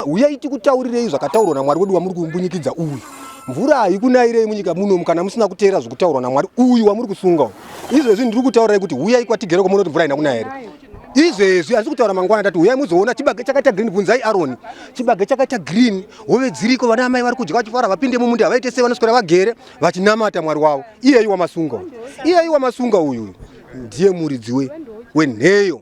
Huyai tikutaurirei zvakataurwa naMwari wedu wamuri kumbunyikidza uyu. Mvura haikunairei munyika muno kana musina kuteera zvokutaurwa naMwari uyu wamuri kusunga uyu. Izvezvi ndiri kutaurirai kuti huyai kwatigere kwomuno kuti mvura haina kunaya here. Izvezvi handisi kutaura mangwana ndati huyai muzoona chibage chakaita green bvunzai Aroni. Chibage chakaita green hove dziriko vana amai vari kudya vachifara vapinde mumunda havaite sei vanoswera vagere vachinamata Mwari wavo. Iyei wamasunga uyu. Iyei wamasunga uyu ndiye muridzi wenheyo.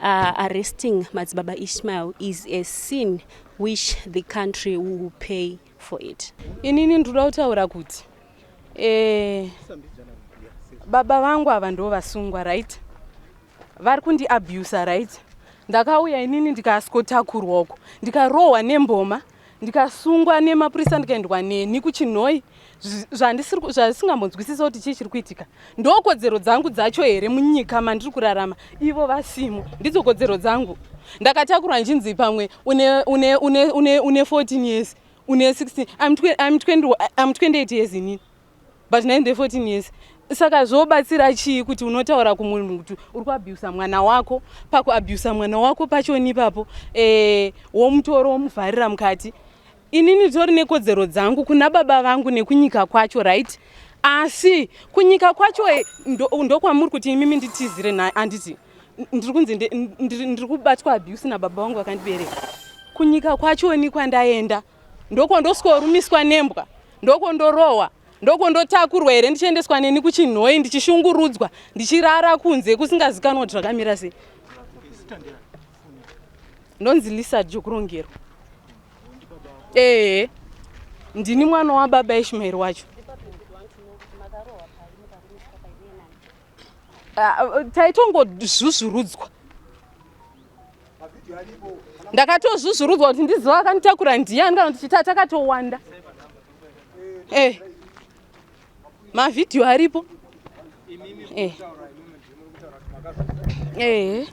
Uh, arresting Madzibaba Ishmael is a sin which the country will pay for it. Inini ndoda kutaura kuti eh, baba vangu ava ndo vasungwa right, vari kundi abusa right. Ndakauya inini ndikaskotakurwa uko ndikarohwa nemboma ndikasungwa nemapurisa ndikaendwa neni kuchinhoi zvandisingambonzwisisa kuti chii chiri kuitika ndokodzero dzangu dzacho here munyika mandiri kurarama ivo vasimo ndidzo kodzero dzangu ndakatakurwa nchinzi pamwe une, une, une, une, une 14 years une 16 I'm 28 years inini but nine the 14 years saka zvobatsira chii kuti unotaura kumunhu kuti uri kuabusa mwana wako pakuabusa mwana wako pachoni ipapo e, womutoro womuvharira mukati inini tori nekodzero dzangu kuna baba vangu nekunyika kwacho right asi kunyika kwacho eh, ndokwamuri ndo kuti imimi nditizire naye anditi ndiri kunzi ndiri kubatwa abuse nababa vangu vakandibereka kunyika kwachoni kwandaenda ndokwandosikorumiswa nembwa ndokwondorohwa ndokwondotakurwa here ndichiendeswa neni kuchinhoyi ndichishungurudzwa ndichirara kunze kusingazikanwa kuti zvakamira sei ndonzi lisa jokurongerwa ehe ndini mwana wababa ishumaeri wacho ah, ah, taitongodzvuzvurudzwa ndakatozvuzvurudzwa kuti ndiziva akanditakura ndiyani kana kuti chitata akatowanda eh mavhidhiyo aripo eh eh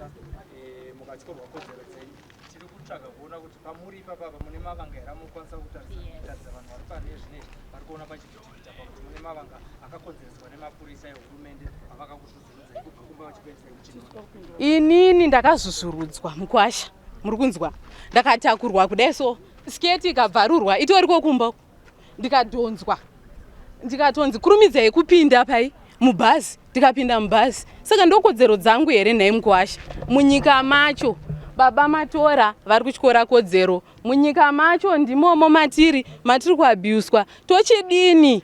inini ndakazvuzvurudzwa mukwasha muri kunzwa ndakatakurwa kudai so sketi ikabvarurwa itoriko kumba ndikadhonzwa ndikatonzi kurumidzai kupinda pai mubhazi ndikapinda mubhazi saka ndokodzero dzangu here nhai mukwasha munyika macho baba matora vari kutyora kodzero munyika macho ndimomo matiri matiri kuabhuswa tochidini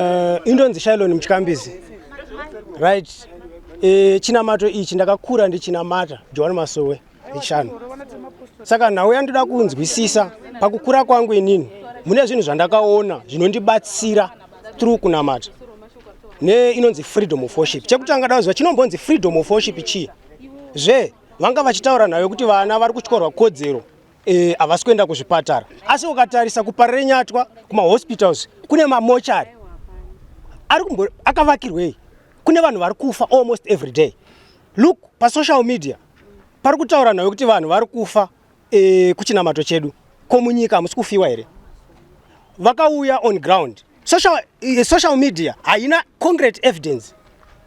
Eh, indonzi shailon muchikambizi right eh, chinamato ichi ndakakura ndichinamata johani masowe echishanu saka nhau yandoda kunzwisisa pakukura kwangu inini mune zvinhu zvandakaona zvinondibatsira through kunamata ne inonzi freedom of worship chekutanga daziva chinombonzi freedom of worship chii zve vanga vachitaura nayo kuti vana vari kutyorwa kodzero Eh, havasi e, kuenda kuzvipatara asi ukatarisa kuparenyatwa kumahospitals kune mamochari ari kumbo akavakirwei kune vanhu vari kufa almost every day look pasocial media pari kutaura nhau yekuti vanhu vari kufa e, kuchinamato chedu ko munyika hamusi kufiwa here vakauya on ground social, e, social media haina concrete evidence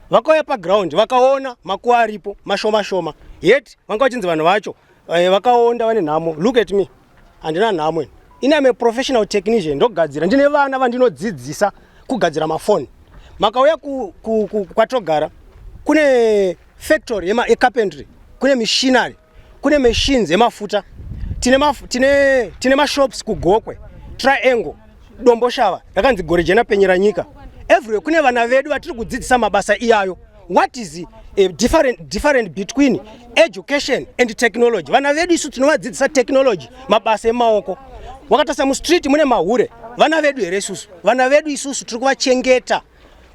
vakauya paground vakaona makuwa aripo mashoma shoma yet vanga vachinzi vanhu vacho Eh, vakaonda vane nhamo look at me handina nhamo ini ame professional technician ndogadzira ndine vana vandinodzidzisa kugadzira mafoni makauya kwatogara kune factory yecarpentry kune mishinary kune machines emafuta tine, maf tine, tine mashops kugokwe triangle domboshava rakanzi gore jena penyera nyika everywhere kune vana vedu vatiri kudzidzisa mabasa iyayo what is a different, different between education and technology vana vedu isu tinovadzidzisa technology mabasa emaoko wakatasa mustreet mune mahure vana vedu here isusu vana vedu isusu tiri kuvachengeta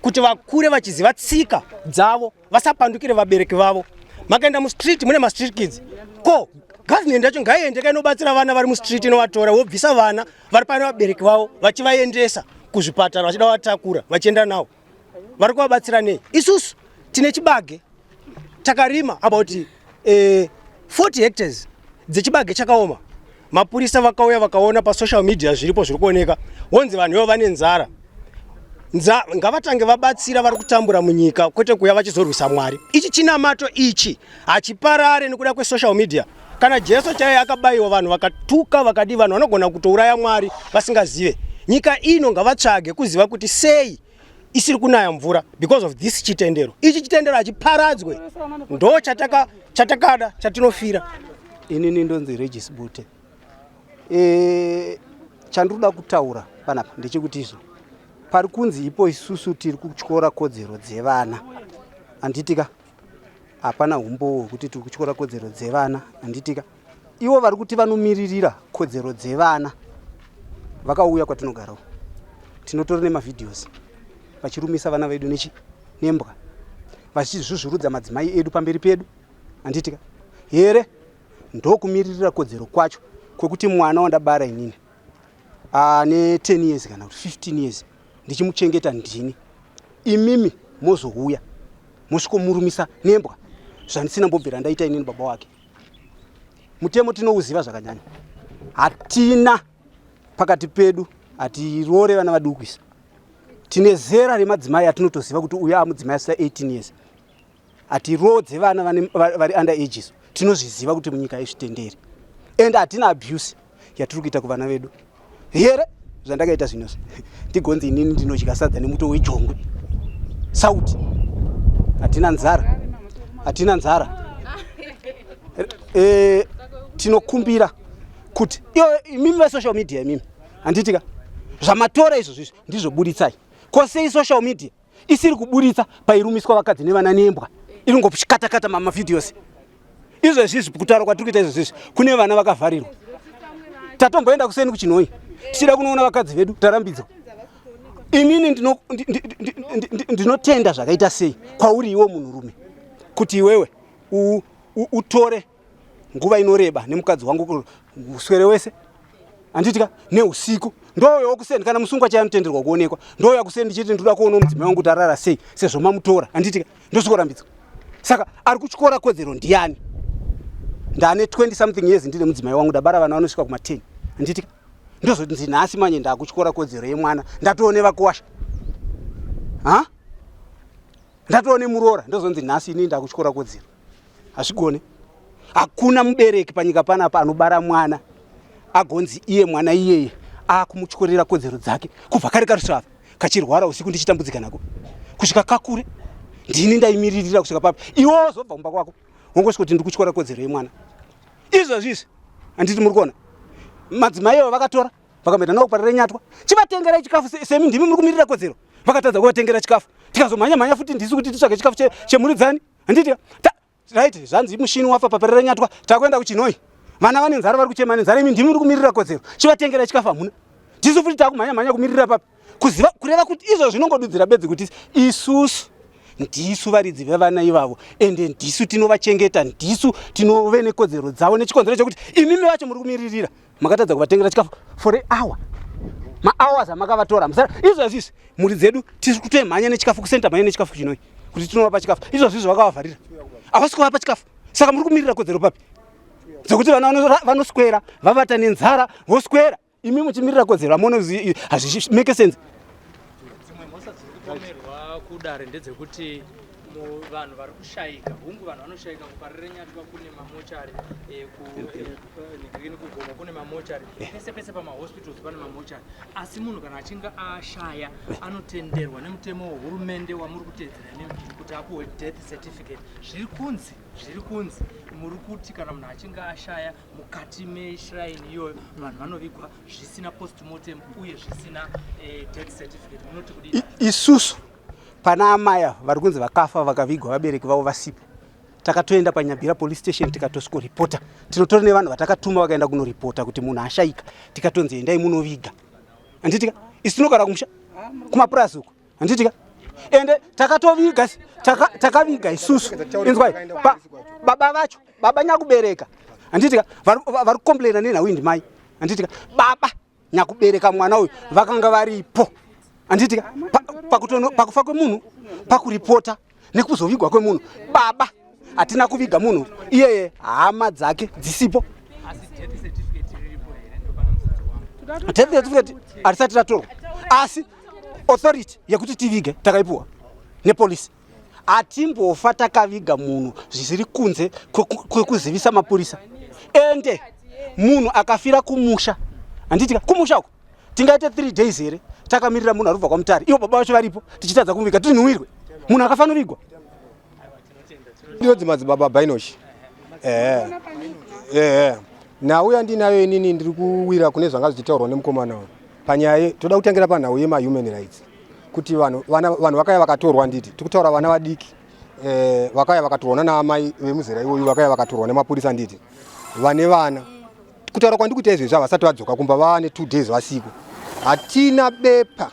kuti vakure vachiziva tsika dzavo vasapandukire vabereki vavo makaenda mustreet mune mastreet kids ko government yacho ngaiende kainobatsira vana vari mustreet inovatora wobvisa vana vari pane vabereki vavo vachivaendesa kuzvipatara vachida vatakura vachienda nawo vari kuvabatsira nei isusu tine chibage takarima about eh, 40 hectares dzechibage chakaoma mapurisa vakauya vakaona pasocial media zviripo zviri kuoneka wonzi vanhu ivo vane nzara Nza, ngavatange vabatsira vari kutambura munyika kwete kuya vachizorwisa mwari ichi chinamato ichi hachiparare nekuda kwesocial media kana jesu chaiye akabayiwa vanhu vakatuka vakadii vanhu vanogona kutouraya mwari vasingazive nyika ino ngavatsvage kuziva kuti sei isiri kunaya mvura because of this chitendero ichi chitendero hachiparadzwe ndo chatakada chataka, chatinofira inini ndonzi regis bute e, chandinoda kutaura panapa ndechekuti izvo pari kunzi ipo isusu tiri kutyora kodzero dzevana handitika Hapana humbowo hwekuti tiri kutyora kodzero dzevana, handitika? Ivo vari kuti vanomiririra kodzero dzevana vakauya kwatinogarawo, tinotori nemavhidhiyosi vachirumisa vana vedu nechi nembwa vachizvuzvurudza madzimai edu pamberi pedu, handitika? Here ndokumiririra kodzero kwacho kwekuti mwana wandabara inini ane 10 years kana kuti 15 years ndichimuchengeta ndini imimi mozouya mosvikomurumisa nembwa zvandisina mbobvira ndaita inini baba wake mutemo tinouziva zvakanyanya hatina pakati pedu hatiroore vana vadukwisa tine zera remadzimai atinotoziva kuti uyo amudzimai asita 18 years ati roo dzevana vari under ages tinozviziva kuti munyika haizvitenderi and hatina abuse yatiri kuita kuvana vedu here zvandakaita zvinozvi ndigonzi inini ndinodya sadza nemuto wejongwe sauti hatina nzara hatina nzara e, tinokumbira kuti iyo imimi vesocial media imimi handiti ka zvamatora izvo zvizvi ndizvoburitsai kosei social media isiri kuburitsa pairumiswa vakadzi nevana nembwa iri ngopuchikatakata mamavideos izvezvizvi kutaura kwatiri kuita izvezvizvi kune vana vakavharirwa tatomboenda kuseni kuchinhoi tichida kunoona vakadzi vedu tarambidzwa inini ndinotenda zvakaita sei kwauri iwo munhurume kuti iwewe utore nguva inoreba nemukadzi wangu uswere wese anditika neusiku ndouya kuseni kana musungwa chai anotenderwa kuonekwa ndouya kuseni ndichiti ndoda kuona mudzimai wangu kuti arara sei sezvo mamutora anditika ndosvikorambidza saka ari kutyora kodzero ndiani ndane 20 something years ndine mudzimai wangu ndabara vana vanosvika kuma10 anditika ndozoti nhasi manye ndakutyora kodzero yemwana ndatoone vakuwasha ha ndatoone muroora ndozonzi nhasi ini ndakutyora kodzero hazvigone hakuna mubereki panyika panapa anobara mwana agonzi iye mwana iyeye akumutyorera kodzero dzake kubva kari karusvava kachirwara usiku ndichitambudzika nako kusvika kakure ndini ndaimiririra kusvika papi iwe wozobva kumba kwako wongosvika kuti ndikutyora kodzero yemwana izvozvizvi handiti muri kuona madzimai avo vakatora vakamboita navo kuparira nyatwa chivatengerai chikafu semi ndimi muri kumirira kodzero vakatadza kuvatengera chikafu tikazomhanya mhanya futi ndisi kuti titsvage chikafu chemhuri dzani handiti right zvanzi mushini wafa paperera nyatwa takuenda kuchinoi vana vane nzara vari kuchema nenzara imi ndimi uri kumirira kodzero chivatengera chikafa hamuna tisu futi takumhanya mhanya kumirira papi kuziva kureva kuti izvo zvinongodudzira bedzi kuti isusu ndisu varidzi vevana ivavo ende ndisu tinovachengeta ndisu tinove nekodzero dzavo nechikonzero chekuti imimi vacho muri kumiririra makatadza kuvatengera chikafu for a hour mahours amakavatora musara izvozvi izvi mhuri dzedu tiri kutoemhanya nechikafu kucenter mhanya nechikafu chinoi kuti tinovapa chikafu izvozvi izvi vakavavharira havasi kuvapa chikafu saka muri kumirira kodzero papi dzekuti vana vanoswera vavata nenzara voswera imi muchimirira kodzero amone hazvimake sense dzimwe mhosva dziri kupomerwa kudare ndedzekuti vanhu vari kushaika hungu vanhu vanoshaika kuparerenyatwa kune mamochari eh, kuini eh, kugomo kune mamochari eh. pese pese pamahospitals pane mamochari asi munhu kana achinge ashaya anotenderwa nemutemo wehurumende wamuri kuteedzera imimi kuti apuhwe death certificate zviri kunzi zviri kunzi muri kuti kana munhu achinge ashaya mukati meshiraini iyoyo vanhu vanovigwa zvisina postmortem uye zvisina death certificate munoti kudii isusu Pana amai ava vari kunzi vakafa vakavigwa vabereki vavo vasipo. Takatoenda paNyabira police station tikatosviko reporter. Tinotori nevanhu vatakatuma vakaenda kuno reporter kuti munhu ashaika. Tikatonzi endai munoviga. Handitika? Isu tinogara kumusha. Kumapurazi uko. Handitika? Ende takatoviga taka, takaviga isusu. Inzwai. Ba, baba vacho, baba nyakubereka. Handitika? Vari vari complaina nenhau indi mai. Handitika? Baba nyakubereka mwana uyu vakanga varipo anditi pakufa kwemunhu pakuripota nekuzovigwa kwemunhu baba hatina kuviga munhu iyeye hama dzake dzisipo death certificate harisati ratorwa asi authority yekuti tivige takaipuwa nepolisi hatimbofa takaviga munhu zvisiri kunze kwekuzivisa mapurisa ende munhu akafira kumusha handitika kumusha uko tingaite three days here takamirira munhu arubva kwamutari ivo baba vacho varipo tichitadza kumuviga tinhuwirwe munhu akafanuvigwa ndinodzi madzibaba bainoshi ehe ehe nhau yandinayo inini ndiri kuwira kune zvanga zvichitaurwa nemukomana uyu panyaya toda kutengera panhau yemahuman rights kuti vanhu vanhu vakaya vakatorwa nditi tikutaura vana vadiki eh, vakaya vakatorwa nana amai vemuzera iwoyu vakaya vakatorwa nemapurisa nditi vane vana kutaura kwandikuita izvezvi havasati vadzoka kumba vane two days vasiko hatina bepa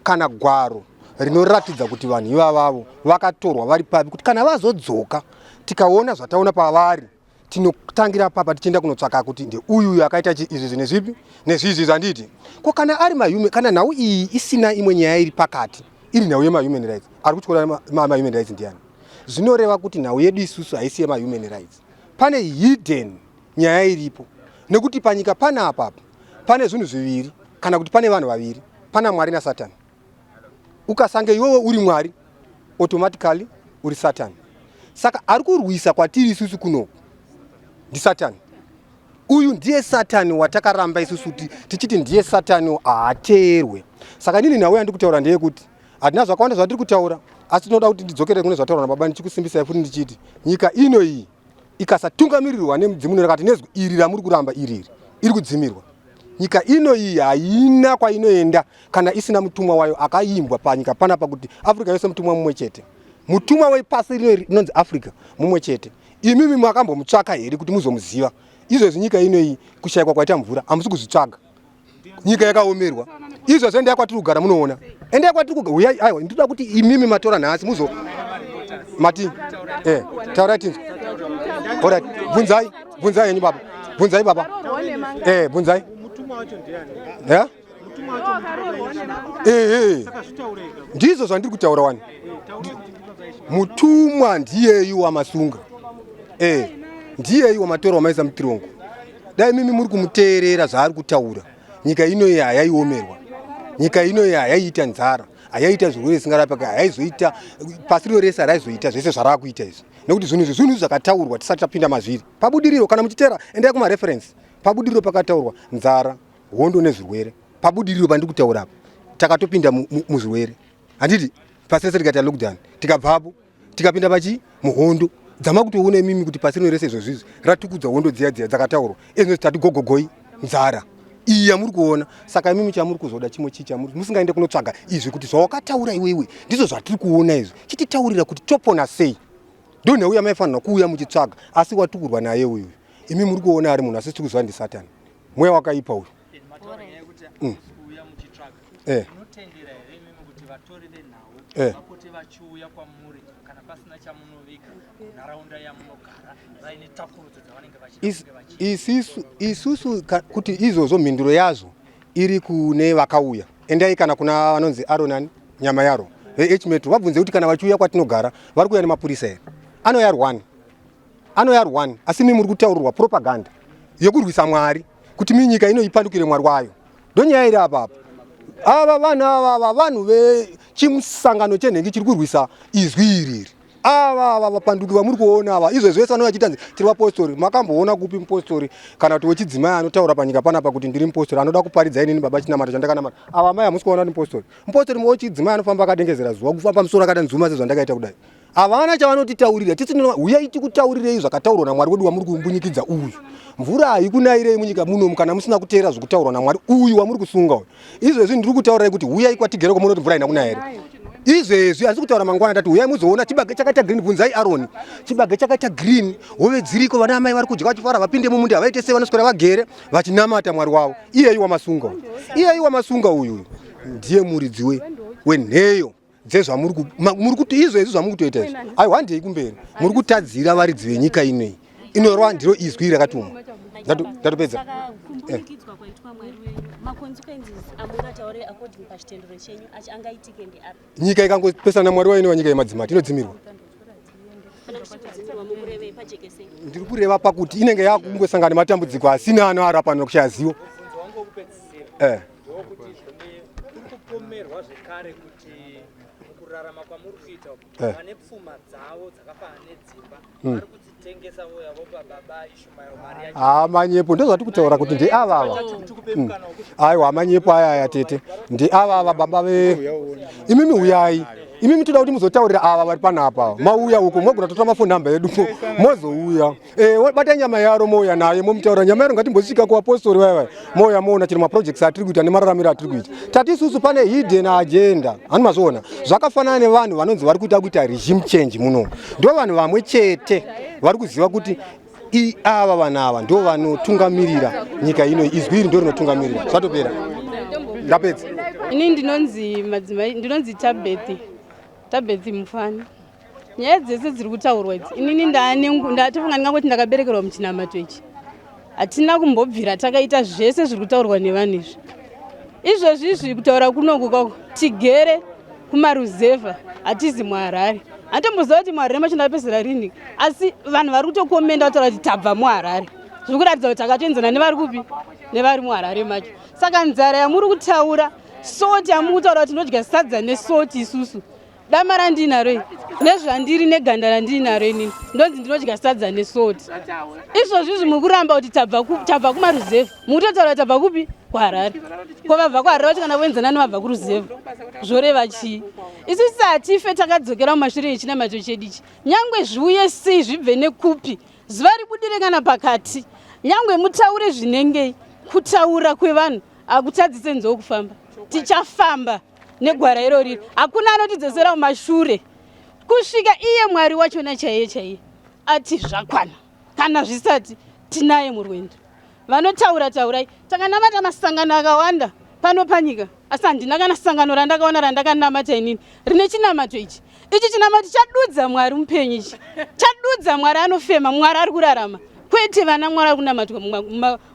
kana gwaro rinoratidza kuti vanhu ivavavo vakatorwa vari papi kuti kana vazodzoka tikaona zvataona pavari tinotangira papa tichienda kunotsvaka kuti ndeuyu uyu akaita izvizvi nezvipi nezvizvi zvanditi ko kana ari mahuman kana nhau iyi isina imwe nyaya iri pakati iri nhau yemahuman rights ari kutyora mahuman rights ndiani zvinoreva kuti nhau yedu isusu haisi yemahuman rights pane hidden nyaya iripo nekuti panyika pana apapa pane zvinhu zviviri kana kuti pane vanhu vaviri pana mwari nasatani ukasange iwewe uri mwari automatically uri satani saka ari kurwisa kwatiri isusu kunoku ndisatani uyu ndiye satani watakaramba isusu kuti tichiti ndiye satani haateerwe saka nini nhau yandiri kutaura ndeyekuti hatina zvakawanda zvatiri kutaura asi tinoda kuti ndidzokere kune zvataura nababa ndichikusimbisai futi ndichiti nyika ino iyi ikasatungamirirwa nemudzimu norakati nezwi iri ramuri kuramba iriri iri kudzimirwa nyika ino iyi haina kwainoenda kana isina mutumwa wayo akaimbwa panyika panapa kuti africa yose mutumwa mumwe chete mutumwa wepasi rino rinonzi africa mumwe chete imimi makambomutsvaka here kuti muzomuziva izvezvi nyika inoi kushayikwa kwaita mvura hamusi kuzvitsvaga nyika yakaomerwa izvezvi endai kwatiri kugara munoona endai kwatiri kugara uyai aiwa ndinoda kuti imimi matora nhasi muzo mati eh, taurai tinzwa orit bvunzai bvunzai henyu baba bvunzai baba eh, bvunzai ehe ndizvo zvandiri kutaura wani mutumwa ndiyeyu wamasunga eh ndiyeyu wamatora wamaisa mutirongo dai mimi muri kumuteerera zvaari kutaura nyika ino iyi hayaiomerwa nyika ino iyi hayaiita nzara hayaita zvirwere zvisingarapika hayaizoita pasi rino rese haraizoita zvese zvaraakuita izvi nekuti zvinhu izvi zvinhu izvi zvakataurwa tisati tapinda mazviri pabudiriro kana muchiteera endai kumareferensi pabudiriro pakataurwa nzara hondo nezvirwere pabudiriro pandiri kutaura apa takatopinda muzvirwere handiti pasi rese tikaita lockdown tikabvapo tikapinda pachi muhondo dzamakutoona imimi kuti pasi rino rese izvozvizvi ratukudza hondo dziya dziya dzakataurwa ezvinoti tatigogogoi nzara iyi yamuri kuona saka imimi chamuri kuzoda chimwe chii chamuri musingaende kunotsvaga izvi kuti zvawakataura iwewe ndizvo zvatiri kuona izvi chititaurira kuti topona sei ndo nhau yamaifanirwa kuuya muchitsvaga asi watukurwa naye uyuyu imi muri kuona ari munhu asi tiri kuziva ndisatani mweya wakaipa uyu mm. eh. Eh. isusu kuti izvozvo mhinduro yazvo iri kune vakauya endai kana kuna vanonzi aronani nyama yaro vehmetro vabvunze kuti kana vachiuya kwatinogara vari kuuya nemapurisa here anoyarwani anouya ari one asi mii muri kutaurirwa propaganda yekurwisa mwari kuti mii nyika ino ipandukire mwari wayo ndonyaya iri apapa ava vanhu avava vanhu vechimusangano chenhengi chiri kurwisa izwi iri iri ava ava vapanduki vamuri kuona ava izvezvi vese vanova chitanzi tiri vapostori makamboona kupi mupostori kana kuti wechidzimai anotaura panyika panapa kuti ndiri mupostori anoda kuparidza inini baba chinamato chandakanamata ava mai hamusi kuona kuti mupostori mupostori mwewechidzimai anofamba akadengezera zuva kufamba musoro akada nzuma sezvandakaita kudai havana chavanotitaurira tisi huyai tikutaurirei zvakataurwa namwari wedu wamuri kumbunyikidza uyu mvura haikunairei munyika munomu kana musina kuteera zvokutaurwa namwari uyu wamuri kusunga uyu izvezvi ndiri kutaurirai kuti huyai kwatigere kwamunoti mvura haina kunaya here izvezvi handisi kutaura mangwana tati huyai muzoona chibage chakaita green bvunzai aroni chibage chakaita green hove dziriko vana amai vari kudya vachifara vapinde mumundi havaite sei vanoswera vagere vachinamata mwari wavo iyei wamasunga uyu iyei wamasunga uyu ndiye muridzi wenheyo dzezvamuri muri kuti izvo izvi zvamuri kutoita izvi aiwandei kumberi muri kutadzira varidzi venyika inei inorwa ndiro izwi rakatumwa ndatopedza eh. nyika ikangopesana mwari waine wanyika yemadzimati inodzimirwa ndiri kureva pakuti inenge yakungosangana nematambudziko asina anoarapa nokushaya zivo eh. ndokuti zvimwe kuri kupomerwa zvekare kuti mukurarama kwamuri kuita eh. vane pfuma dzavo dzakafanana nedzimba hmm. vari kudzitengesa voya vopa baba ishumairo mari yacho haa ah, manyepo ndozvati kutaura kuti ndiavava hmm. aiwa ah, manyepo aya aya tete ndiavava baba ve imimi uyai imimi toda kuti muzotaurira ava vari panapa mauya uko mogona totora mafoni number edu mozouya Eh, bata nyama yaro moya naye momutaura nyama yaro ngatimbosvika kuapostori vaya vaya moya moona chero maprojects atiri kuita nemararamiro atiri kuita tati isusu pane hidden agenda hani mazviona zvakafanana nevanhu vanonzi vari kuita kuita regime change muno ndo vanhu vamwe chete vari kuziva kuti ava vanhu ava ndo vanotungamirira nyika ino izwi iri ndo rinotungamirira zvatopera ndapedza ini ndinonzi madzimai ndinonzi tabethi tabethi mufani nyaya dzese dziri kutaurwa idzi inini ndatofunga ndingangoti ndakaberekerwa muchinamato ichi hatina kumbobvira takaita zvese zviri kutaurwa nevanhu izvi izvozvi izvi kutaura kunoku kwako tigere kumaruzevha hatizi muharare handitomboziva kuti muharare macho ndapesera rini asi vanhu vari kutokomenda vataura kuti tabva muharare zviri kuratidza kuti takatoenzana nevari kupi nevari muharare macho saka nzara yamuri kutaura soti yamuri kutaura kuti ndodya sadza nesoti isusu dama randiri naro iri nezvandiri neganda randiri naro inini ndonzi ndinodya sadza nesoti izvozvi izvi muri kuramba kuti tabva kumaruzevha muri kutotaura tabva kupi kuharare ko vabva kuharare vacho kana voenzana nevabva kuruzevha zvoreva chii isu satife takadzokera mumashure echinamato chedu ichi nyange zviuye sei zvibve nekupi zuva ribudire kana pakati nyange mutaure zvinengei kutaura kwevanhu akuchadzise nzoo kufamba tichafamba negwara iro riri hakuna anotidzosera kumashure kusvika iye mwari wachona chaiye chaiye ati zvakwana kana zvisati tinaye murwendo vanotaura taurai takanamata masangano akawanda pano panyika asi handina kana sangano randakaona randakanamata inini rine chinamato ichi ichi chinamato chadudza mwari mupenyu ichi chadudza mwari anofema mwari ari kurarama kwete vana mwari ari kunamatwa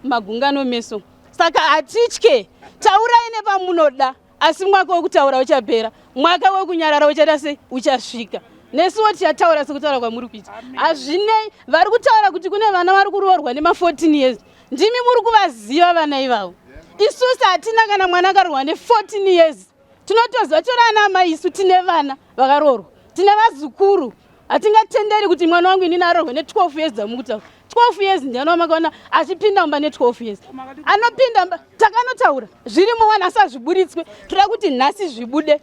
mumagungano meso saka hatitye taurai nepamunoda asi mwaka wekutaura uchapera mwaka wekunyarara uchaita sei uchasvika nesuwo tichataura sekutaura kwamuri kuita hazvinei vari kutaura kuti kune vana vari kuroorwa nema14 years ndimi muri kuvaziva vana ivavo isusu hatina kana mwana akarohwa ne14 years tinotoziva tora ana amai isu tine vana vakaroorwa tine vazukuru hatingatenderi kuti mwana wangu inini arohwe ne 12 years dzamukutaura 12 years ndiana wamakaona achipinda mumba ne 12 years anopinda mba takanotaura zviri muwana asi hazviburitswe toda kuti nhasi zvibude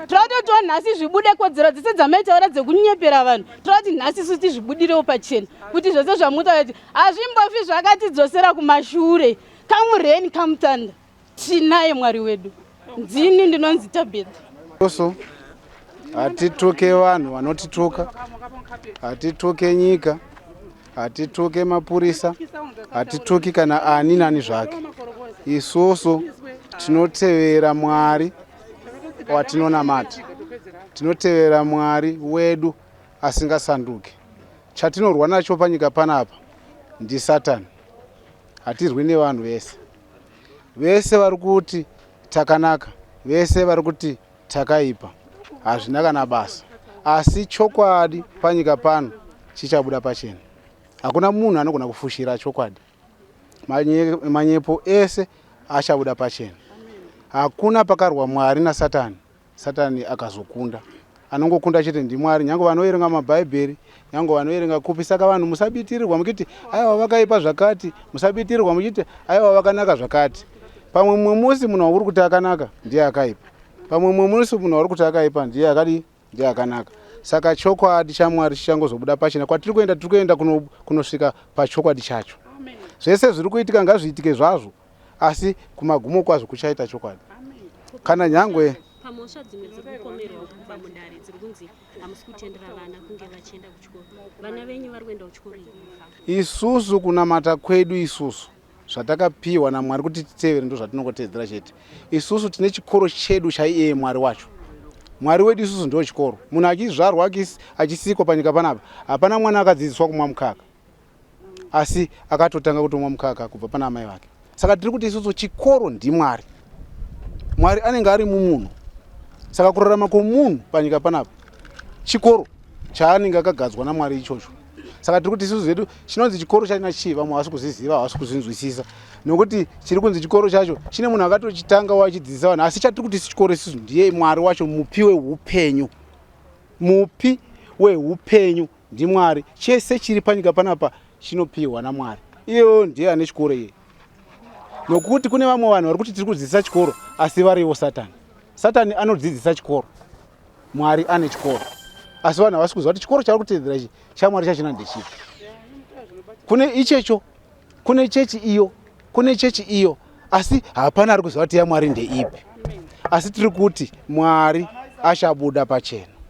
toda kutotiwa nhasi zvibude kodzero dzese dzamaitaura dzekunyepera vanhu toda kuti nhasi isu tizvibudirewo pachena kuti zvese zvamuta kuti hazvimbofi zvakatidzosera kumashure kamureni kamutanda Tinaye Mwari wedu. Ndini ndinonzi Tabitha. Also hatituke vanhu vanotituka, hatituke nyika, hatituke mapurisa, hatituki kana ani nani zvake. Isusu tinotevera Mwari watinonamata, tinotevera Mwari wedu asingasanduke. Chatinorwa nacho panyika panapa ndiSatani, hatirwi nevanhu vese. vese vari kuti takanaka vese vari kuti takaipa hazvina kana basa asi chokwadi panyika pano chichabuda pachena hakuna munhu anogona kufushira chokwadi manyepo ese achabuda pachena hakuna pakarwa mwari nasatani Satani akazokunda. Anongokunda chete ndiMwari, nyange vanoerenga maBhaibheri, nyange vanoerenga kupi. Saka vanhu musabitirirwa muchiti aiwa vakaipa zvakati, musabitirirwa muchiti aiwa vakanaka zvakati. Pamwe mumwe musi munhu wauri kuti akanaka ndiye akaipa, pamwe mumwe musi munhu wauri kuti akaipa ndiye akadii, ndiye akanaka. Saka chokwadi chaMwari chichangozobuda pachena. Kwatiri kuenda tiri kuenda kuno, kunosvika pachokwadi chacho. Zvese zviri kuitika ngazviitike zvazvo. asi kumagumo kwazvo kuchaita chokwadi kana nyangwe pamhosva dzimwe dziri kupomerwa kubva mudare dziri kunzi hamusi kutendera vana kunge vachienda kuchikoro vana venyu vari kuenda kuchikoro isusu kunamata kwedu isusu zvatakapiwa namwari kuti titevere ndo zvatinongoteedzera chete isusu tine chikoro chedu chaieye mwari wacho mwari wedu isusu ndo chikoro munhu achizvarwa achisikwa panyika panapa hapana mwana akadzidziswa kumwa mukaka asi akatotanga kutomwa mukaka kubva pana amai vake saka tiri kuti isusu chikoro ndimwari mwari anenge ari mumunhu saka kurarama kwomunhu panyika panapa chikoro chaanenge akagadzwa namwari ichocho saka tiri kuti isusu zvedu chinonzi chikoro chachina chii vamwe havasi kuzviziva havasi kuzvinzwisisa nokuti chiri kunzi chikoro chacho chine munhu akatochitanga wachidzidzisa vanhu asi chatiri kuti sichikoro isusu ndiye mwari wacho mupi weupenyu mupi weupenyu NdiMwari. Chese chiri panyika panapa chinopiwa naMwari. Iyo ndiye ane chikoro iye. Nokuti kune vamwe vanhu vari kuti tiri kudzidzisa chikoro asi varivo Satani. Satani anodzidzisa chikoro. Mwari ane chikoro. Asi vanhu havasi kuziva kuti chikoro chavari kutedzera ichi chaMwari chachina ndechipi. Kune ichecho, kune chechi iyo, kune chechi iyo asi hapana ari kuziva kuti yaMwari ndeipi. Asi tiri kuti Mwari achabuda pachena.